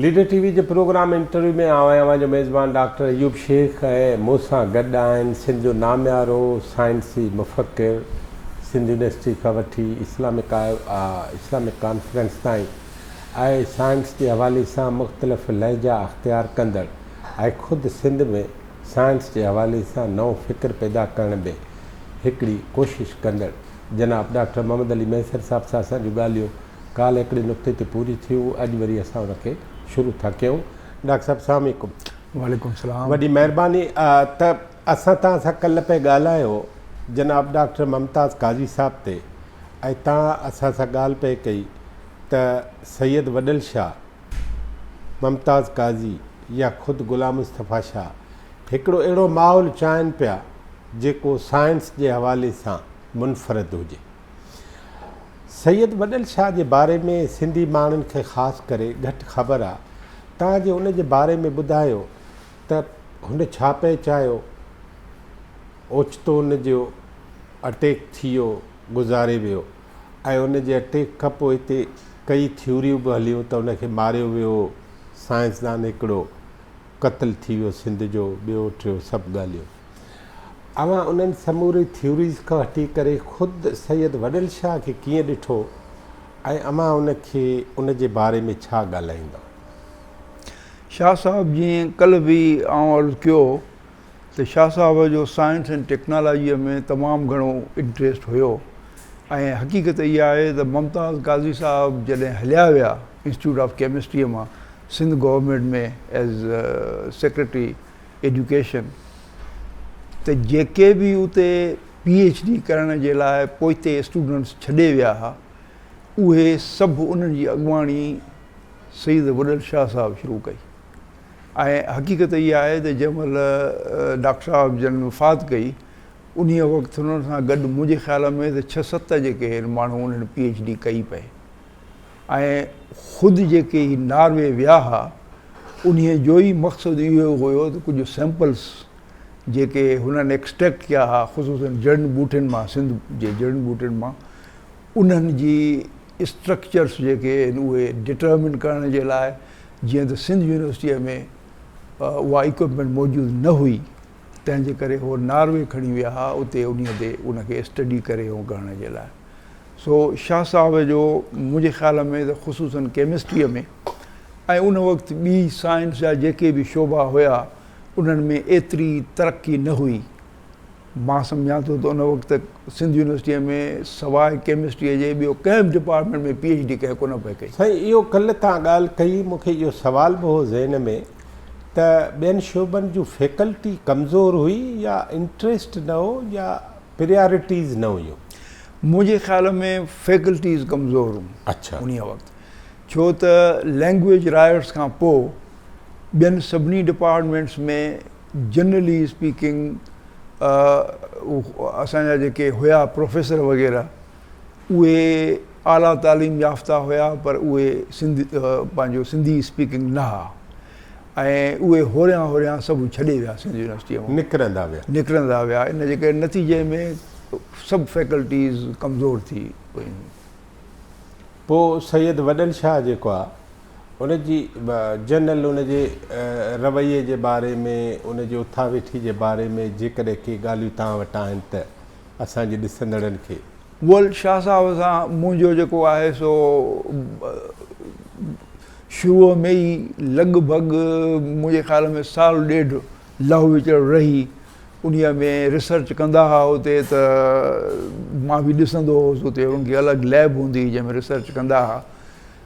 Leader T V جي programme interview ۾ آء اوهان جو ميزبان ڊاڪٽر ايوب شيخ ۽ مون سان گڏ آهن سنڌ جو ناميارو سائنسي مفڪر، سنڌ يونيورسٽي کان وٺي اسلامڪ اسلامڪ ڪانفرنس تائين آء سائنس جي حوالي سان مختلف لهجا اختيار ڪندڙ ۽ خود سنڌ ۾ سائنس جي حوالي سان نئون فڪر پيدا ڪرڻ ۾ هڪڙي ڪوشش ڪندڙ جناب ڊاڪٽر محمد علي مهيسر صاحب سان اسان جون ڳالهيون ڪالهه هڪڙي نقطي تي پوري ٿيون، اڄ وري اسان ان کي شروع ٿا ڪيون. ڊاڪٽر صاحب سلام عليڪم. وعليڪم السلام. وڏي مهرباني ته اسان توهان سان ڪلهه پئي ڳالهايو جناب ڊاڪٽر ممتاز قاضي صاحب تي ۽ توهان اسان سان ڳالهه پئي ڪئي ته سيد وڏل شاهه، ممتاز قاضي يا خود غلام مصطفيٰ شاهه هڪڙو اهڙو ماحول چاهين پيا جيڪو سائنس جي حوالي سان منفرد هجي. سيد وڏل شاهه جي باري ۾ سنڌي ماڻهن کي خاص ڪري گهٽ خبر آ تان جي ان جي باري ۾ ٻڌايو ته هن ڇا پئي چاهيو اوچتو ان جو اٽيڪ ٿيو گذاري ويو. ۽ ان جي اٽيڪ کان پوء هتي ڪيئي ٿيوريون به هليون ته ان کي ماريو ويو، سائنسدان هڪڙو قتل ٿي ويو سنڌ جو، ٻيو ٽيو سڀ ڳالهيون. اوهان انهن سموري ٿيوريز کان هٽي ڪري خود سيد وڏل شاهه کي ڪيئن ڏٺو ۽ اوهان ان کي ان جي باري ۾ ڇا ڳالهائيندؤ؟ شاهه صاحب جيئن ڪلهه به آئون عرض ڪيو ته شاهه صاحب جو سائنس ۽ ٽيڪنالاجيء ۾ تمام گهڻو انٽريسٽ هيو ۽ حقيقت اها آهي ته ممتاز قاضي صاحب جڏهن هليا ويا انسٽيٽيوٽ آف ڪيمسٽريء مان Sindh government ۾ as secretary education ته جيڪي به اتي پي ايڇ ڊي ڪرڻ جي لاء پوئتي اسٽوڊنٽس ڇڏي ويا ها اهي سڀ انهن جي اڳواڻي سيد وڏل شاهه صاحب شروع ڪئي. ۽ حقيقت اها آهي ته جنهن مهل ڊاڪٽر صاحب جن وفات ڪئي، انهيء وقت انهن سان گڏ منهنجي خيال ۾ ته ڇهه ست جيڪي هين ماڻهو انهن پي ايڇ ڊي ڪئي پئي ۽ خود جيڪي هي ناروي ويا ها، انهيء جو ئي مقصد اهو هيو ته ڪجهه سيمپلز جيڪي هنن ايڪسٽريڪٽ ڪيا ها خصوصاً جڙن ٻوٽين مان، سنڌ جي جڙن ٻوٽين مان، انهن جي. اسٽرڪچرس جيڪي آهن اهي ڊٽرمن ڪرڻ جي لاء جيئن ته سنڌ يونيورسٽيء ۾ اها اڪوپمينٽ موجود نه هئي تنهن جي ڪري هو ناروي کڻي ويا ها اتي انهيء تي ان کي اسٽڊي ڪري ۽ ڪرڻ جي لاء سو شاهه صاحب جو منهنجي خيال ۾ ته خصوصاً ڪيمسٽريء ۾ ۽ ان وقت ٻي سائنس جا جيڪي به شعبا هيا انهن ۾ ايتري ترقي نه هئي مان سمجهان ٿو ته ان وقت سنڌ يونيورسٽيء ۾ سواء ڪيمسٽريء جي ٻيو ڪنهن به ڊپارٽمينٽ ۾ پي ايڇ ڊي ڪنهن ڪونه پئي ڪئي. سائين اهو ڪلهه توهان ڳالهه ڪئي مون کي اهو سوال به هو ذهن ۾ ته ٻين شعبن جون فيڪلٽي ڪمزور هئي يا انٽريسٽ نه هو يا پريارٽيز نه هيون. منهنجي خيال ۾ فيڪلٽيز ڪمزور هيون انهيء وقت ڇو ته لينگويج رائيٽس کان پوء ٻين سڀني ڊپارٽمينٽس ۾ جنرلي اسپيڪنگ اسان جا جيڪي هيا پروفيسر وغيره اهي اعليٰ تعليم يافته هيا پر اهي سنڌ پنهنجو سنڌي اسپيڪنگ نه ها ۽ اهي هوريان هوريان سڀ ڇڏي ويا سنڌ يونيورسٽيء مون نڪرندا ويا نڪرندا ويا ان جي ڪري نتيجي ۾ سڀ فيڪلٽيز ڪمزور ٿي ويون. پوء سيد وڏل شاهه جيڪو آ. ان جي جنرل ان جي رويي جي باري ۾ ان جي اٿا ويٺي جي باري ۾ جيڪڏهن ڪي ڳالهيون توهان وٽ آهن ته اسان جي ڏسندڙن کي ويل شاهه صاحب سان منهنجو جيڪو آهي سو شروع ۾ ئي لڳ ڀڳ منهنجي خيال ۾ سال ڏيڍ لهو وچڙ رهي انهيء ۾ ريسرچ ڪندا ها اتي ته مان به ڏسندو هوس اتي ان جي الڳ ليب هوندي هئي جنهن ۾ ريسرچ ڪندا ها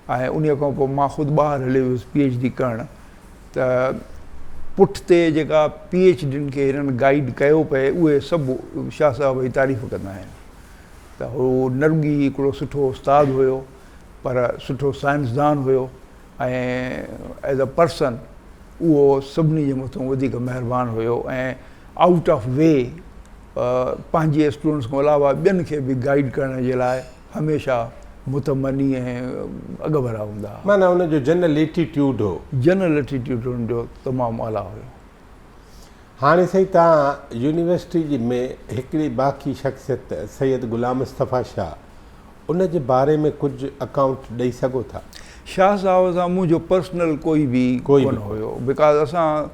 ۽ انهيء کان پوء مان خود ٻاهر هليو ويس پي ايڇ ڊي ڪرڻ ته پٺ تي جيڪا پي ايڇ ڊين کي هنن گائيڊ ڪيو پئي اهي سڀ شاهه صاحب جي تعريف ڪندا آهن ته هو نه رڳي هڪڙو سٺو استاد هيو پر سٺو سائنسدان هيو ۽ ايز اي پرسن اهو سڀني جي مٿون وڌيڪ مهربان هيو ۽ آئوٽ آف وي پنهنجي اسٽوڊنٽس کان علاوه ٻين کي به گائيڊ ڪرڻ جي لاء هميشه متمني ۽ اڳڀرا هوندا ها. معنيٰ ان جو جنرل ليٽي ٽيوڊ هو. جنرل ليٽي ٽيوڊ ان جو تمام اعليٰ هيو. هاڻي سائين توهان يونيورسٽي جي ۾ هڪڙي باقي شخصيت سيد غلام مصطفيٰ شاهه ان جي باري ۾ ڪجهه اڪائونٽ ڏئي سگهو ٿا. شاهه صاحب سان منهنجو پرسنل ڪوئي به ڪونه هيو بيڪاز اسان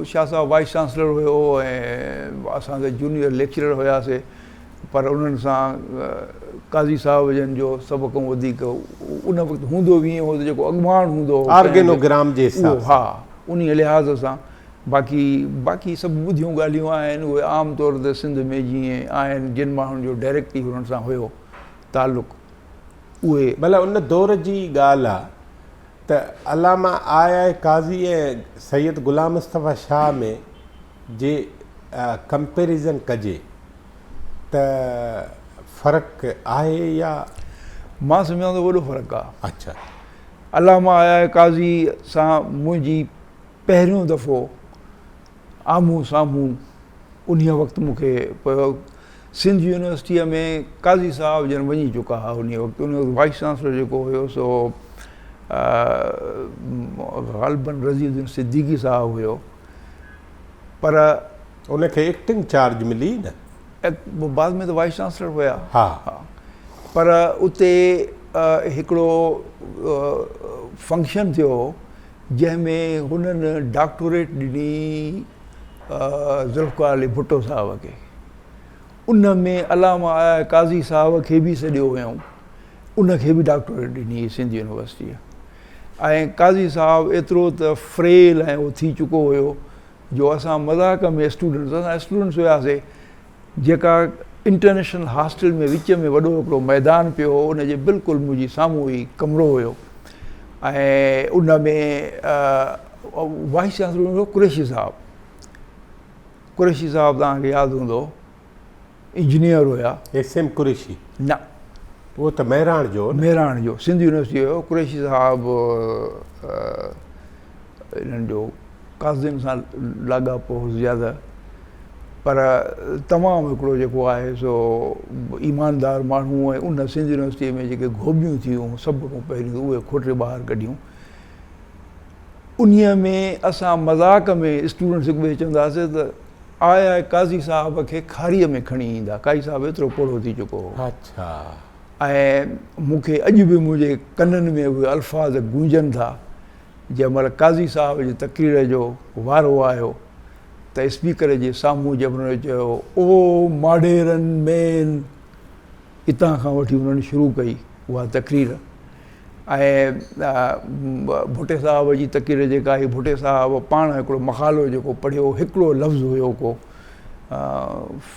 شاهه صاحب وائيس چانسلر هيو ۽ اسان سان جونيئر ليڪچرر هيا سي پر انهن سان قاضي صاحب جن جو سڀ کان وڌيڪ ان وقت هوندو به ائين هو ته جيڪو اڳواڻ هوندو هو آرگينو گرام جي حساب سان ها انهي لحاظ سان باقي باقي سڀ ٻڌيون ڳالهيون آهن اهي عام طور تي سنڌ ۾ جيئن آهن جن ماڻهن جو ڊائريڪٽ ئي انهن سان هيو تعلق اهي بلا ان دور جي ڳالهه آ ته علامه آء آء قاضي ۽ سيد غلام مصطفيٰ شاهه ۾ جي ڪمپيريزن ڪجي ته فرق آهي يا. مان سمجهان ٿو وڏو فرق آ. اڇا. علامه آء آء قاضي سان منهنجي پهريون دفعو. آمهون سامهون انهيء وقت مون کي پيو سنڌ يونيورسٽيء ۾ قاضي صاحب جن وڃي چڪا ها انهيء وقت انهيء وقت وائيس چانسلر جيڪو هيو سو غالبن رضي الدين صديقي صاحب هيو پر ان کي ايڪٽنگ چارج ملي نه؟ بعد ۾ ته وائيس چانسلر هيا ها پر اتي هڪڙو فنڪشن ٿيو هو. جنهن ۾ هنن ڊاڪٽوريٽ ڏني ذوالفقار علي ڀٽو صاحب کي. ان ۾ علامه آء قاضي صاحب کي به سڏيو ويم. ان کي به ڊاڪٽوريٽ ڏني هئي سنڌ يونيورسٽيء. ۽ قاضي صاحب ايترو ته فريل ۽ اهو ٿي چڪو هيو جو اسان مذاق ۾ اسٽوڊنٽس، اسان اسٽوڊنٽس هياسي، جيڪا انٽرنيشنل هاسٽل ۾ وچ ۾ وڏو هڪڙو ميدان پيو هو ان جي بلڪل منهنجي سامهون هي ڪمرو هيو ۽ ان ۾ وائيس چانسلر هيو قريشي صاحب قريشي صاحب تان کي ياد هوندو انجنيئر هيا ايس ايم قريشي نه هو ته مهراڻ جو مهراڻ جو سنڌ يونيورسٽي هيو قريشي صاحب انهن جو قاضين سان لاڳاپو هو زياده پر تمام هڪڙو جيڪو آهي سو ايماندار ماڻهو ۽ ان سنڌ يونيورسٽي ۾ جيڪي گهوٻيون ٿيون سڀ کان پهريون اهي کوٽي ٻاهر ڪڍيون انهي ۾ اسان مذاق ۾ اسٽوڊنٽس هڪ ٻئي چوندا هئاسي ته آء آء قاضي صاحب کي کاري ۾ کڻي ايندا قاضي صاحب ايترو پوڙهو ٿي چڪو هو اچھا ۽ مون کي اڄ به منهنجي ڪنن ۾ اهي الفاظ گونجن ٿا جنهن مهل قاضي صاحب جي تقرير جو وارو آيو ته اسپيڪر جي سامهون جي منهن چيو او ماڊيرن مين اتان کان وٺي انهن شروع ڪئي اها تقرير ۽ ڀٽي صاحب جي تقرير جيڪا هي ڀٽي صاحب پاڻ هڪڙو مقالو جيڪو پڙهيو هڪڙو لفظ هيو ڪو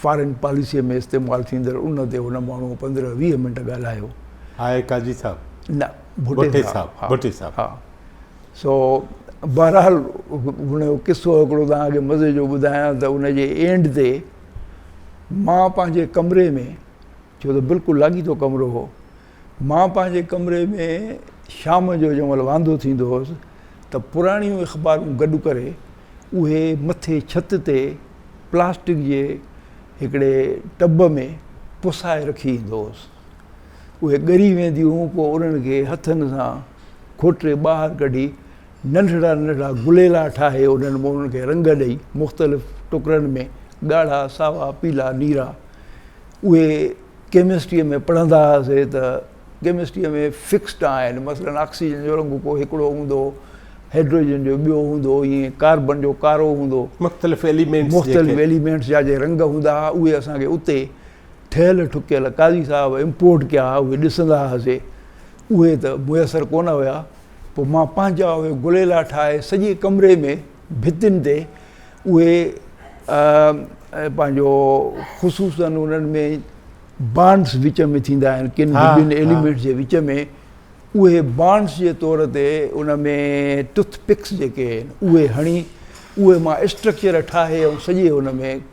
فارن پاليسي ۾ استعمال ٿيندڙ ان تي هن ماڻهو پندرهن ويهه منٽ ڳالهايو آهي قاضي صاحب نه ڀٽي صاحب ڀٽي صاحب ها سو بهرحال هن جو قصو هڪڙو توهان کي مزي جو ٻڌايان ته ان جي اينڊ تي مان پنهنجي ڪمري ۾ ڇو ته بلڪل لاڳيتو ڪمرو هو مان پنهنجي ڪمري ۾ شام جو جنهن مهل واندو ٿيندو هوس ته پراڻيون اخبارون گڏ ڪري اهي مٿي ڇت تي پلاسٽڪ جي هڪڙي ٽب ۾ پسائي رکي ايندو هوس اهي ڳري وينديون، پوء انهن کي هٿن سان کوٽري ٻاهر ڪڍي، ننڍڙا ننڍڙا گليلا ٺاهي، انهن مونن کي رنگ ڏئي، مختلف ٽڪرن ۾، ڳاڙها، ساوا، پيلا، نيرا. اهي ڪيمسٽريء ۾ پڙهندا هئاسين ته ڪيمسٽريء ۾ فڪسڊ آهن، مثلاً آڪسيجن جو رنگ ڪو هڪڙو هوندو، هائڊروجن جو ٻيو هوندو، ائين ڪاربن جو ڪارو هوندو. مختلف ايليمينٽس جيڪي. مختلف ايليمينٽس جا جي رنگ هوندا هئا، اهي اسان کي اتي. ٺهيل ٺڪيل قاضي صاحب امپورٽ ڪيا ها، اهي ڏسندا هئاسي. اهي ته ميسر ڪونه هيا. پوء مان پنهنجا اهي گليلا ٺاهي سڄي ڪمري ۾ ڀتين تي اهي پنهنجو خصوصاً انهن ۾ بانڊس وچ ۾ ٿيندا آهن، ڪن به ٻن ايليمينٽس جي وچ ۾ اهي بانڊس جي طور تي ان ۾ ٽٿ پڪس جيڪي آهن اهي هڻي اهي مان اسٽرڪچر ٺاهي ۽ سڄي ان ۾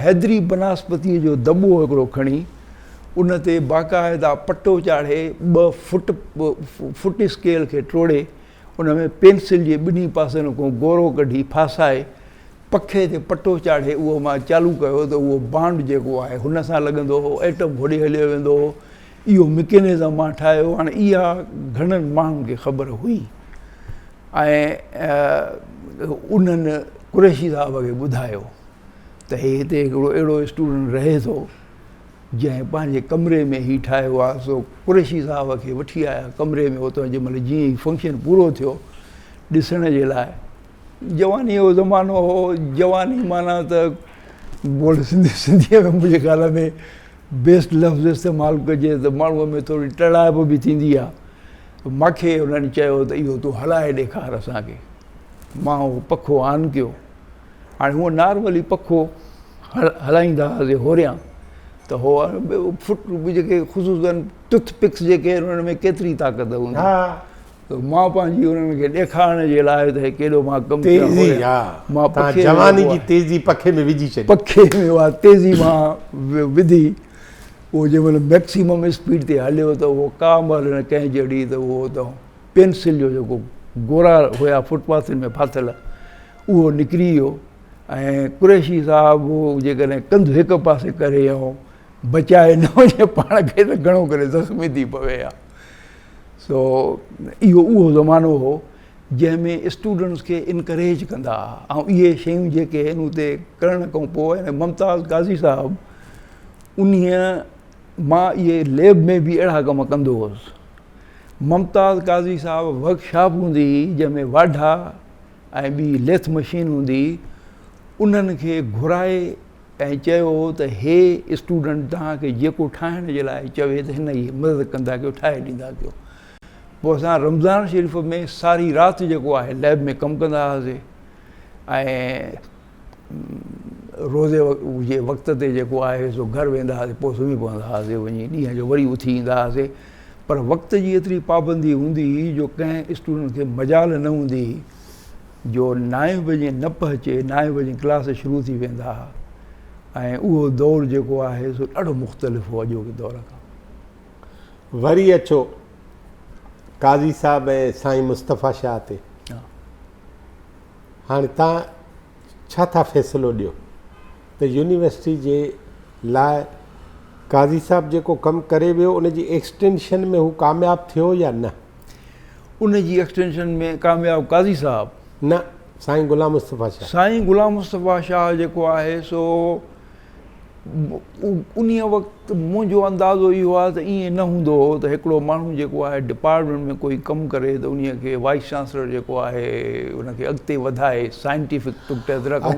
حيدري بناسپتيء جو دٻو هڪڙو کڻي، ان تي باقاعده پٽو چاڙهي، ٻه فٽ فٽ اسڪيل کي ٽوڙي، ان ۾ پينسل جي ٻنهي پاسن کون گورو ڪڍي ڦاسائي، پکي تي پٽو چاڙهي اهو مان چالو ڪيو ته اهو بانڊ جيڪو آهي، هن سان لڳندو هو، ايٽم ڦڙي هليو ويندو هو، اهو مڪينزم مان ٺاهيو هاڻي اها گهڻن ماڻهن کي خبر هئي ۽ انهن قريشي صاحب کي ٻڌايو ته هي هتي هڪڙو اهڙو اسٽوڊنٽ رهي ٿو جنهن پنهنجي ڪمري ۾ هي ٺاهيو آهي سو قريشي صاحب کي وٺي آيا ڪمري ۾ اتان جنهن مهل جيئن ئي فنڪشن پورو ٿيو ڏسڻ جي لاء جواني جو زمانو هو جواني معنيٰ ته بول سنڌي سنڌيء ۾ منهنجي خيال ۾ بيسٽ لفظ استعمال ڪجي ته ماڻهوء ۾ ٿوري ٽڙائپ به ٿيندي آهي. ماکي هنن چيو ته اهو تون هلائي ڏيکار اسان کي. مان اهو پکو آن ڪيو. هاڻي هونء نارملي پکو هلائيندا هئاسين هوريان ته هو فٽ جيڪي خصوصن ٽٿ پڪس جيڪي آهن انهن ۾ ڪيتري طاقت هوندي. مان پنهنجي انهن کي ڏيکارڻ جي لاء ته هي ڪيڏو مان ڪم ڪيو آهي. تيزي، ها، توهان جواني جي تيزي پکي ۾ وجهي ڇڏي. پکي ۾ اها تيزي مان وڌي، اهو جنهن مهل ميڪسيمم اسپيڊ تي هليو ته اهو ڪا مهل نه ڪنهن جهڙي ته اهو اتان پينسل جو جيڪو گورا هيا فوٽ پاٿن ۾ ڦاٿل، اهو نڪري ويو ۽ قريشي صاحب جيڪڏهن ڪنڌ هڪ پاسي ڪري ۽ بچائي نه وڃي پاڻ کي ته گهڻو ڪري زخمي ٿي پوي ها. سو اهو اهو زمانو هو جنهن ۾ اسٽوڊنٽس کي انڪريج ڪندا ها ۽ اهي شيون جيڪي هن اتي ڪرڻ کان پوء ممتاز قاضي صاحب انهيء مان اهي ليب ۾ به اهڙا ڪم ڪندو هوس ممتاز قاضي صاحب ورڪشاپ هوندي هئي جنهن ۾ واڍا ۽ ٻي ليٿ مشين هوندي هئي انهن کي گهرائي ۽ چيو ته هي اسٽوڊنٽ توهان کي جيڪو ٺاهڻ جي لاء چوي ته هن کي مدد ڪندا ڪيو ٺاهي ڏيندا ڪيو پوء اسان رمضان شريف ۾ ساري رات جيڪو آهي ليب ۾ ڪم ڪندا هئاسي ۽ روزي جي وقت تي جيڪو آهي سو گهر ويندا هئاسي پوء سمهي پوندا هئاسي وڃي ڏينهن جو وري اٿي ايندا هئاسي پر وقت جي ايتري پابندي هوندي هئي جو ڪنهن اسٽوڊنٽ کي مجال نه هوندي هئي جو نائين بجي نه پهچي نائين بجي ڪلاس شروع ٿي ويندا ها ۽ اهو دور جيڪو آهي سو ڏاڍو مختلف هو اڄوڪي دور کان. وري اچو قاضي صاحب ۽ سائين مصطفيٰ شاهه تي. هاڻي توهان ڇا ٿا فيصلو ڏيو ته يونيورسٽي جي لاء قاضي صاحب جيڪو ڪم ڪري ويو ان جي ايڪسٽينشن ۾ هو ڪامياب ٿيو يا نه؟ ان جي ايڪسٽينشن ۾ ڪامياب قاضي صاحب. نه سائين غلام مصطفيٰ شاهه. سائين غلام مصطفيٰ شاهه جيڪو آهي سو انهي وقت منهنجو اندازو اهو آهي ته ائين نه هوندو هو ته هڪڙو ماڻهو جيڪو آهي ڊپارٽمينٽ ۾ ڪوئي ڪم ڪري ته انهي کي وائيس چانسلر جيڪو آهي ان کي اڳتي وڌائي سائنٽيفڪ نقطه نظر کان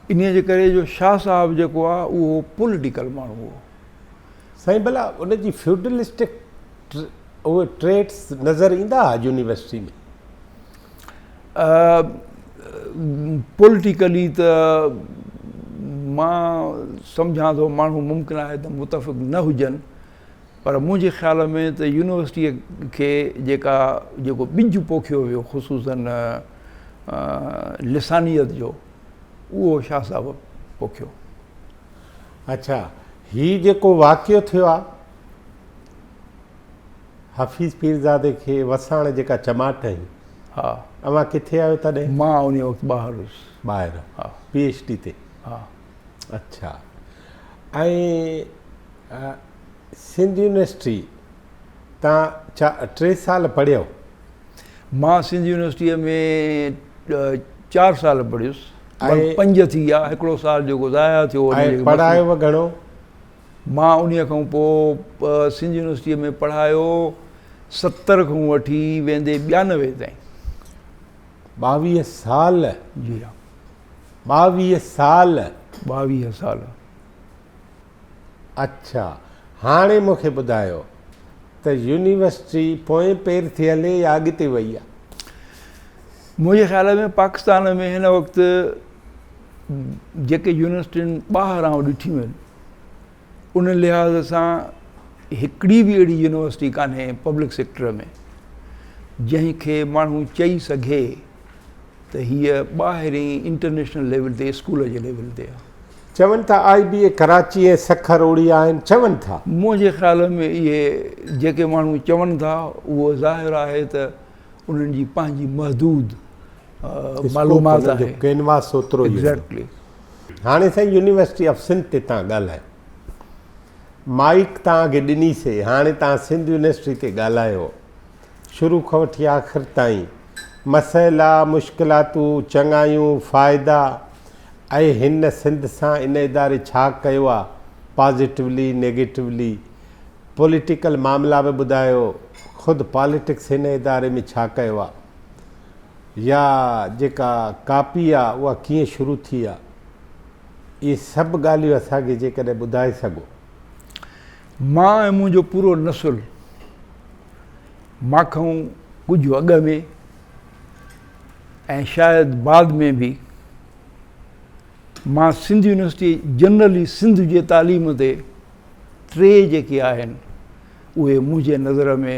انهي جي ڪري جو شاهه صاحب جيڪو آهي اهو پوليٽيڪل ماڻهو هو سائين ڀلا ان جي فيوڊلسٽڪ اهي ٽريٽس نظر ايندا هئا يونيورسٽي ۾ پوليٽيڪلي ته مان سمجهان ٿو ماڻهو ممڪن آهي ته متفق نه هجن پر منهنجي خيال ۾ ته يونيورسٽيء کي جيڪا جيڪو ٻج پوکيو ويو خصوصاً لسانيت جو اهو شاهه صاحب پوکيو اڇا هي جيڪو واقعو ٿيو آ حفيظ پيرزادي کي وساڻ جيڪا چماٽ هئي ها اوهان ڪٿي آهيو تڏهن مان انهي وقت ٻاهر هيس ٻاهر ها پي ايڇ ڊي تي ها اڇا ۽ سنڌ يونيورسٽي تان ڇا ٽي سال پڙهيو؟ مان سنڌ يونيورسٽيء ۾ چار سال پڙهيس. ۽ پنج ٿي ويا. هڪڙو سال جيڪو ضايع ٿيو. ۽ پڙهايو به گهڻو؟ مان انهيء کان پوء سنڌ يونيورسٽيء ۾ پڙهايو ستر کان وٺي ويندي ٻيانوي تائين. ٻاويهه سال؟ جي ها. ٻاويهه سال؟ ٻاويهه سال. اڇا هاڻي مون کي ٻڌايو ته يونيورسٽي پوئين پير ٿي هلي يا اڳتي وئي آ؟ منهنجي خيال ۾ پاڪستان ۾ هن وقت جيڪي يونيورسٽين ٻاهر آئون ڏٺيون آهن ان لحاظ سان هڪڙي به اهڙي يونيورسٽي ڪانهي پبلڪ سيڪٽر ۾ جنهن کي ماڻهو چئي سگهي ته هيء ٻاهرين انٽرنيشنل ليول تي اسڪول جي ليول تي آ. چون ٿا آء بي اي ڪراچي ۽ سکر اوڙي آهن چون ٿا. منهنجي خيال ۾ اهي جيڪي ماڻهو چون ٿا اهو ظاهر آهي ته انهن جي پنهنجي محدود معلومات آهي. اسڪوپ انهن جو ڪينواس اوترو ئي هوندو. هاڻي سائين يونيورسٽي آف سنڌ تي تان ڳالهائي مائيڪ تان کي ڏني سي هاڻي تان سنڌ يونيورسٽي تي ڳالهايو. شروع کان وٺي آخر تائين مسئلا، مشڪلاتون، چڱايون، فائدا ۽ هن سنڌ سان ان اداري ڇا ڪيو آ، پازيٽولي، نيگيٽولي، پوليٽيڪل معاملا به ٻڌايو، خود پاليٽڪس هن اداري ۾ ڇا ڪيو آ يا جيڪا ڪاپي آ اها ڪيئن شروع ٿي آ، اهي سڀ ڳالهيون اسان کي جيڪڏهن ٻڌائي سگهو. مان ۽ منهنجو پورو نسل مان کان ڪجهه اڳ ۾ ۽ شايد بعد ۾ به مان سنڌ يونيورسٽي جنرلي سنڌ جي تعليم تي ٽي جيڪي آهن اهي منهنجي نظر ۾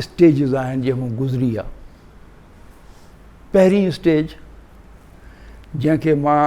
اسٽيجز آهن جنهن مون گذري آ پهرين اسٽيج جنهن کي مان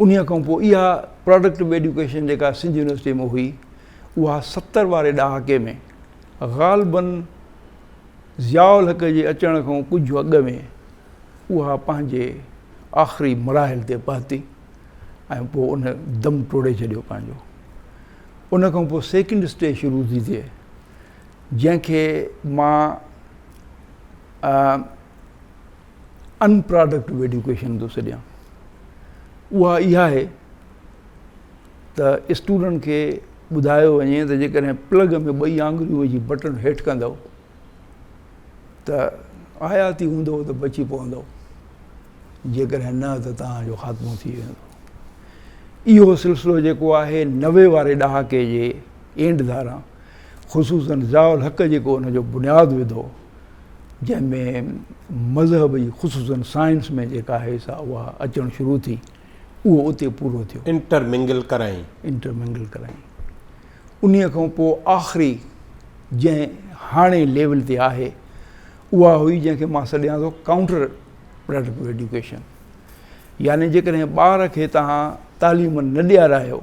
انهيء کان پوء اها پراڊڪٽو ايڊيوڪيشن جيڪا سنڌ يونيورسٽيء ۾ هئي، اها ستر واري ڏهاڪي ۾ غالباً ضياء الحق جي اچڻ کان ڪجهه اڳ ۾ اها پنهنجي آخري مراحل تي پهتي ۽ پوء ان دم ٽوڙي ڇڏيو پنهنجو. ان کان پوء سيڪنڊ اسٽيج شروع ٿي ٿئي، جنهن کي مان ان پراڊڪٽو ايڊيوڪيشن ٿو سڏيان اها اها آهي ته اسٽوڊنٽ کي ٻڌايو وڃي ته جيڪڏهن پلگ ۾ ٻئي آنگريون وجهي بٽن هيٺ ڪندو ته آياتي هوندو ته بچي پوندو جيڪڏهن نه ته توهان جو خاتمو ٿي ويندو اهو سلسلو جيڪو آهي نوي واري ڏهاڪي جي اينڊ ڌاران خصوصاً ضياء الحق جيڪو ان جو بنياد وڌو جنهن ۾ مذهب جي خصوصاً سائنس ۾ جيڪا آهي سا اها اچڻ شروع ٿي اهو اتي پورو ٿيو. انٽر منگل ڪرايائين. انٽر منگل ڪرايائين. انهيء کان پوء آخري جنهن هاڻي ليول تي آهي اها هئي جنهن کي مان سڏيان ٿو ڪائونٽر پراڊڪٽو ايڊيوڪيشن يعني جيڪڏهن ٻار کي توهان تعليم نه ڏيارايو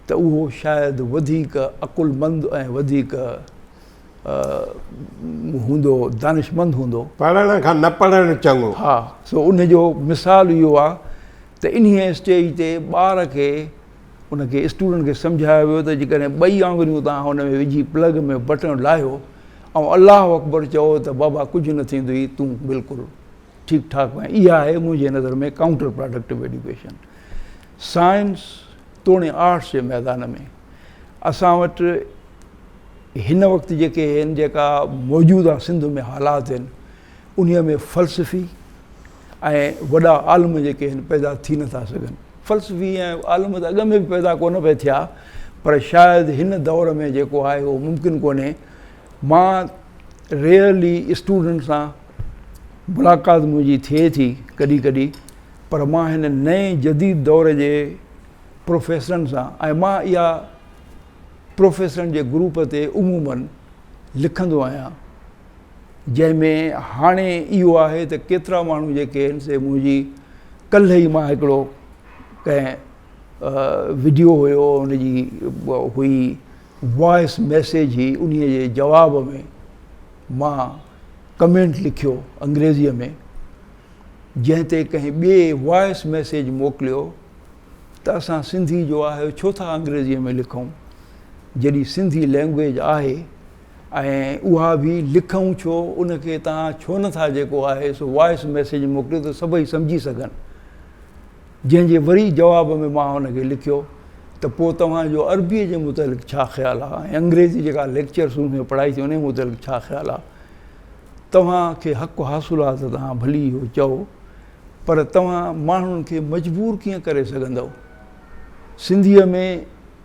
ته اهو شايد وڌيڪ عقلمند ۽ وڌيڪ هوندو، دانشمند هوندو. پڙهڻ کان نه پڙهڻ چڱو. ها، سو ان جو مثال اهو آ ته انهيء اسٽيج تي ٻار کي، ان کي اسٽوڊنٽ کي سمجهايو ويو ته جيڪڏهن ٻئي آڱريون توهان ان ۾ وجهي پلگ ۾ بٽڻ لاهيو ۽ الله اڪبر چئو ته بابا ڪجهه نه ٿيندوئي تون بلڪل ٺيڪ ٺاڪ آهين اها آهي منهنجي نظر ۾ ڪائونٽر پراڊڪٽو ايڊيوڪيشن سائنس توڻي آرٽس جي ميدان ۾ اسان وٽ هن وقت جيڪي هن جيڪا موجوده سنڌ ۾ حالات هن انهي ۾ فلسفي ۽ وڏا عالم جيڪي هن پيدا ٿي نه ٿا سگهن فلسفي ۽ عالم ته اڳ ۾ به پيدا ڪونه پئي ٿيا پر شايد هن دور ۾ جيڪو آهي اهو ممڪن ڪونهي مان ريئرلي اسٽوڊنٽ سان ملاقات منهنجي ٿئي ٿي ڪڏهن ڪڏهن پر مان هن نئين جديد دور جي پروفيسرن سان ۽ مان اها پروفيسرن جي گروپ تي عموماً لکندو آهيان، جنهن ۾ هاڻي اهو آهي ته ڪيترا ماڻهو جيڪي آهن سي منهنجي ڪلهه ئي مان هڪڙو ڪنهن وڊيو هيو ان جي هئي وائس ميسيج هي انهي جي جواب ۾ مان ڪمينٽ لکيو انگريزي ۾ جنهن تي ڪنهن ٻئي وائس ميسيج موڪليو ته اسان سنڌي جو آهيو ڇو ٿا انگريزيء ۾ لکون جڏهن سنڌي لئنگويج آهي ۽ اها به لکون ڇو ان کي توهان ڇو نه ٿا جيڪو آهي سو وائس ميسيج موڪليو ته سڀئي سمجهي سگهن جنهن جي وري جواب ۾ مان هن کي لکيو ته پوء توهان جو عربيء جي متعلق ڇا خيال آهي ۽ انگريزي جيڪا ليڪچر سون ۾ پڙهائي ٿي انهي متعلق ڇا خيال آهي توهان کي حق حاصل آهي ته توهان ڀلي اهو چئو پر توهان ماڻهن کي مجبور ڪيئن ڪري سگهندؤ؟ سنڌيء ۾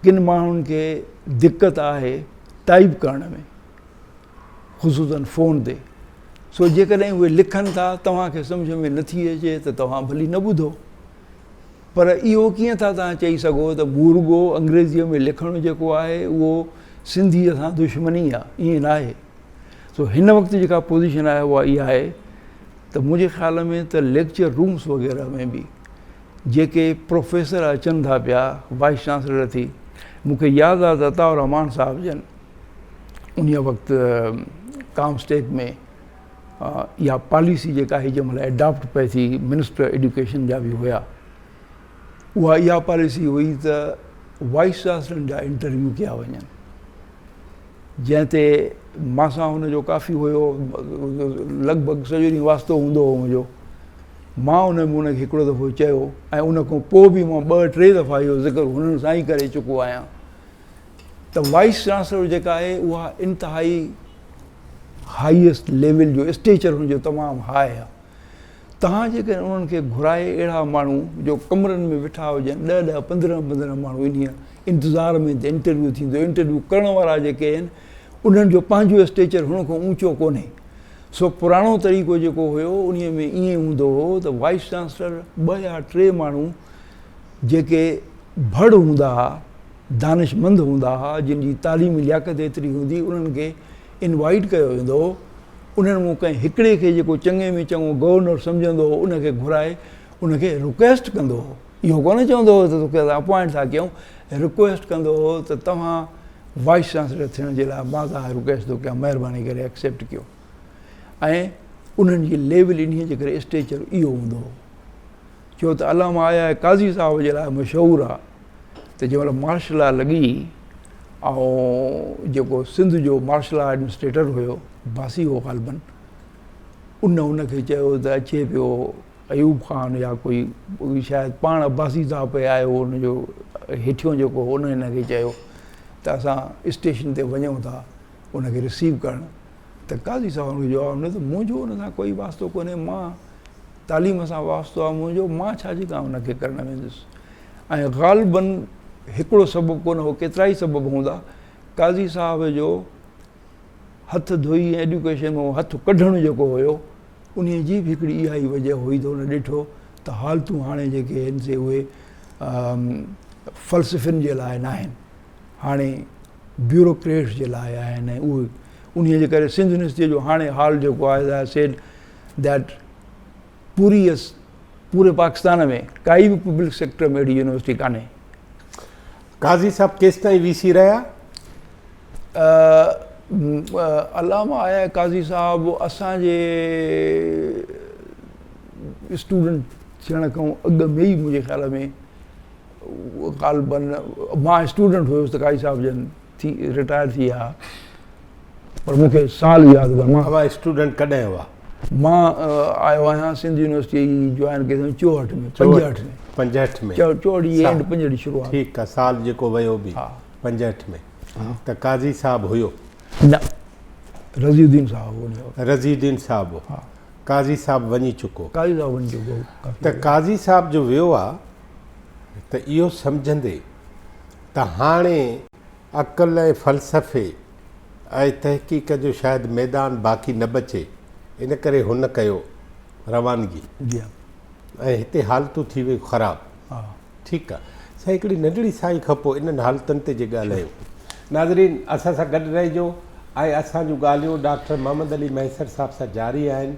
ڪن ماڻهن کي دقت آهي ٽائيپ ڪرڻ ۾، خصوصاً فون تي، سو جيڪڏهن اهي لکن ٿا توهان کي سمجهه ۾ نه ٿي اچي ته توهان ڀلي نه ٻڌو. پر اهو ڪيئن ٿا توهان چئي سگهو ته مون رڳو انگريزيء ۾ لکڻ جيڪو آهي اهو سنڌيء سان دشمني آهي، ائين ناهي. سو هن وقت جيڪا پوزيشن آهي اها اها آهي ته منهنجي خيال ۾ ته ليڪچر رومس وغيره ۾ به جيڪي پروفيسر اچن ٿا پيا وائيس چانسلر ٿي مون کي ياد آهي ته عطاء الرحمان صاحب جن ان وقت ڪام اسٽيڪ ۾ اها پاليسي جيڪا هي جنهن مهل ايڊاپٽ پئي ٿي منسٽر ايڊيوڪيشن جا به هيا اها اها پاليسي هئي ته وائيس چانسلرن جا انٽرويو ڪيا وڃن، جنهن تي مان سان هن جو ڪافي هيو لڳ ڀڳ سڄو ڏينهن واسطو هوندو هو منهنجو. مان ان هن کي هڪڙو دفعو چيو ۽ ان کان پوء به مان ٻه ٽي دفعا اهو ذڪر هنن سان ئي ڪري چڪو آهيان ته وائيس چانسلر جيڪا آهي اها انتهائي هائيسٽ ليول جو اسٽيچر هن جو تمام هاء آهي. توهان جيڪڏهن انهن کي گهرائي اهڙا ماڻهو جو ڪمرن ۾ ويٺا هجن ڏهه ڏهه پندرهن پندرهن ماڻهو انهي انتظار ۾ ته انٽرويو ٿيندو انٽرويو ڪرڻ وارا جيڪي آهن انهن جو پنهنجو اسٽيچر هن کان اوچو ڪونهي سو پراڻو طريقو جيڪو هيو انهي ۾ ائين هوندو هو ته وائيس چانسلر ٻه يا ٽي ماڻهو جيڪي ڀڙ هوندا ها دانشمند هوندا ها جن جي تعليمي لياقت ايتري هوندي انهن کي انوائيٽ ڪيو ويندو هو، انهن مون ڪنهن هڪڙي کي جيڪو چڱي ۾ چڱو گورنر سمجهندو هو ان کي گهرائي ان کي رڪويسٽ ڪندو هو، اهو ڪونه چوندو هو ته توکي اسان اپوائنٽ ٿا ڪيون، رڪويسٽ ڪندو هو ته توهان وائيس چانسلر ٿيڻ جي لاء مان توهان کي رڪويسٽ ٿو ڪيان مهرباني ڪري ايڪسيپٽ ڪيو ۽ انهن جي ليول انهيء جي ڪري اسٽيچر اهو هوندو هو ڇو ته علامه آيا قاضي صاحب جي لاء مشهور آ. ته جنهن مهل مارشل لا لڳي ۽ جيڪو سنڌ جو مارشل لا ايڊمنسٽريٽر هيو باسي هو غالبن ان ان کي چيو ته اچي پيو ايوب خان يا ڪوئي شايد پاڻ عباسي صاحب پئي آيو ان جو هيٺيون جيڪو هو ان هن کي چيو ته اسان اسٽيشن تي وڃون ٿا ان کي رسيو ڪرڻ ته قاضي صاحب ان کي جواب ڏنو ته منهنجو ان سان ڪوئي واسطو ڪونهي مان تعليم سان واسطو آهي منهنجو مان ڇا جي ڪام ان کي ڪرڻ ويندس ۽ غالبا هڪڙو سبب ڪونه هو ڪيترا ئي سبب هوندا قاضي صاحب جو هٿ ڌوئي ۽ ايڊيوڪيشن مان هٿ ڪڍڻ جيڪو هيو ان جي به هڪڙي اها ئي وجه هئي ته ان ڏٺو ته حالتون هاڻي جيڪي آهن سي اهي فلسفين جي لاء ناهن هاڻي بيوروڪريٽس جي لاء آهن ۽ اهي انهيء جي ڪري سنڌ يونيورسٽيء جو هاڻي حال جيڪو آهي آء سيڊ ڌيٽ پوري يس پوري پاڪستان ۾ ڪائي به پبلڪ سيڪٽر ۾ اهڙي يونيورسٽي ڪانهي. قاضي صاحب ڪيستائين وي سي رهيا؟ علامه آء قاضي صاحب اسان جي اسٽوڊنٽ ٿيڻ کان اڳ ۾ ئي منهنجي خيال ۾ غالباً مان اسٽوڊنٽ هيس ته قاضي صاحب جن ٿي رٽائر ٿي ويا پر مون کي سال ياد هو مان اوهان اسٽوڊنٽ ڪڏهن هئا مان آيو آهيان سنڌ يونيورسٽي جوائن ڪئي سن 64 ۾ 65 ۾ 65 ۾ 64 جي اينڊ 65 جي شروعات ٺيڪ آ سال جيڪو ويو به 65 ۾ ته قاضي صاحب هيو نه رضي الدين صاحب هو رضي الدين صاحب قاضي صاحب وڃي چڪو قاضي صاحب وڃي چڪو ته قاضي صاحب جو ويو آ ته اهو سمجهندي ته هاڻي عقل ۽ فلسفي ۽ تحقيق جو شايد ميدان باقي نه بچي ان ڪري هن ڪيو روانگي ۽ هتي حالتون ٿي ويون خراب ٺيڪ آ سائين هڪڙي ننڍڙي ساهي کان پوء انهن حالتن تي جي ڳالهايون ناظرين اسان سان گڏ رهجو ۽ اسان جون ڳالهيون ڊاڪٽر محمد علي مهيسر صاحب سان جاري آهن